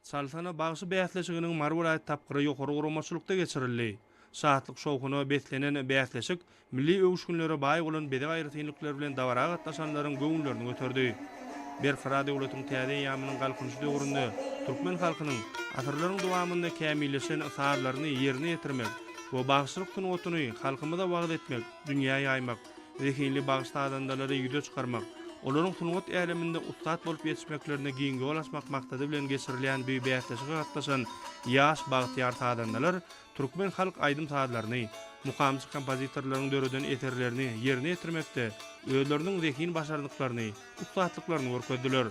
Saltana bagşy bäsleşiginiň Mary welaýat tapgyry ýokary guramaçylykda geçirildi. Şatlyk-şowhuna beslenen bäsleşik milli öwüşginlere baý bolan bezeg aýratynlyklary bilen dabara gatnaşanlaryň göwünlerini göterdi. Berkarar döwletiň täze eýýamynyň Galkynyşy döwründe türkmen halkynyň asyrlaryň dowamynda kämilleşen sazlaryny ýerine ýetirmek we bagşylyk sungatyny halkymyza wagyz etmek, dünýä ýaýmak, zehinli bagyş-sazandalary ýüze çykarmak, olaryň sungat äleminde ussat bolup ýetişmeklerine giň ýol açmak maksady bilen geçirilýän bu bäsleşige gatnaşan ýaş bagtyýar sazandalar türkmen halk aýdym-sazlaryny, mukamçy kompozitorlaryň döreden eserlerini ýerine ýetirmekde özleriniň zehin başarnyklaryny, ussatlyklaryny görkezdiler.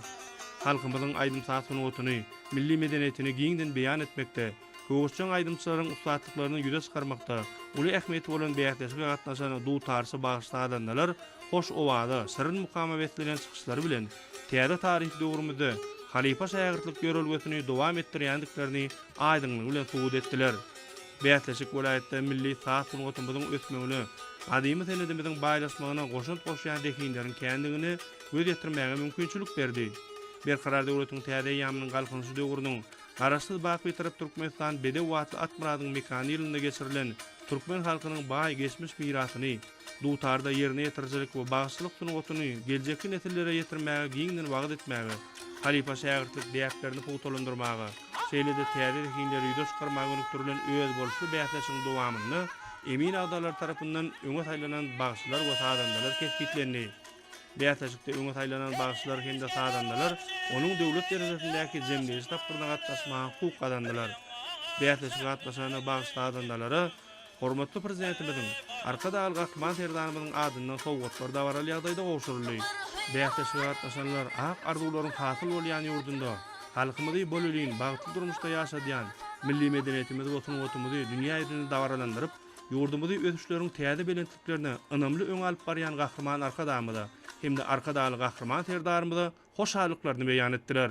Halkymyzyň aýdym-saz sungatyny, milli medeniýetini giňden beýan etmekde, Söweşjeň aýdymçylaryň ussatlyklaryny ýüze çykarmakda uly ähmiýeti bolan bäsleşige gatnaşan dutarçy bagyş-sazandalar hoş owaza, şirin mukama beslenen çykyşlary bilen täze taryhy döwrümizde halypa-şägirtlik ýörelgesini dowam etdirýändiklerini aýdyňlygy bilen subut etdiler. Bäsleşik welaýatda milli saz sungatymyzyň ösmegine, gadymy senedimiziň baýlaşmagyna goşant goşýan zehinleriň kändigine göz ýetirmäge mümkinçilik berdi. Berkarar döwletiň täze eýýamynyň Galkynyşy döwrüniň Garaşsyz baky Tarap Türkmenistan Bedew atly Akmyradyň mekany ýylynda geçirilen türkmen halkynyň baý geçmiş mirasyny, dutarda ýerine ýetirijilik we bagşylyk sungatyny geljekki nesillere ýetirmäge giňden wagyz etmäge, halypa-şägirtlik däplerini pugtalandyrmaga, şeýle-de täze zehinleri ýüze çykarmaga gönükdirilen özboluşly bäsleşigiň dowamynda emin agzalary tarapyndan öňe saýlanan bagşylar we sazandalar kesgitlendi. Bäsleşikde öňe saýlanan bagşylar hem-de sazandalar onuň döwlet derejesindäki jemleýji tapgyryna gatnaşmaga hukuk gazandylar. Bäsleşige gatnaşan bagşy-sazandalara hormatly Prezidentimiziň, Arkadagly Gahryman Serdarymyzyň adyndan sowgatlar dabaraly ýagdaýda gowşuryldy. Bäsleşige gatnaşanlar ak arzuwlaryň hasyl bolýan ýurdunda halkymyzy bolelin, bagtly durmuşda ýaşadýan, milli medeniýetimizi we sungatymyzy dünýä ýüzünde dabaralandyryp, ýurdumyzy ösüşleriň täze belentliklerine üstünliklerine ynamly öňe alyp barýan Gahryman Arkadagymyza hem-de Arkadagly Gahryman Serdarymyza hoşallyklaryny beýan etdiler.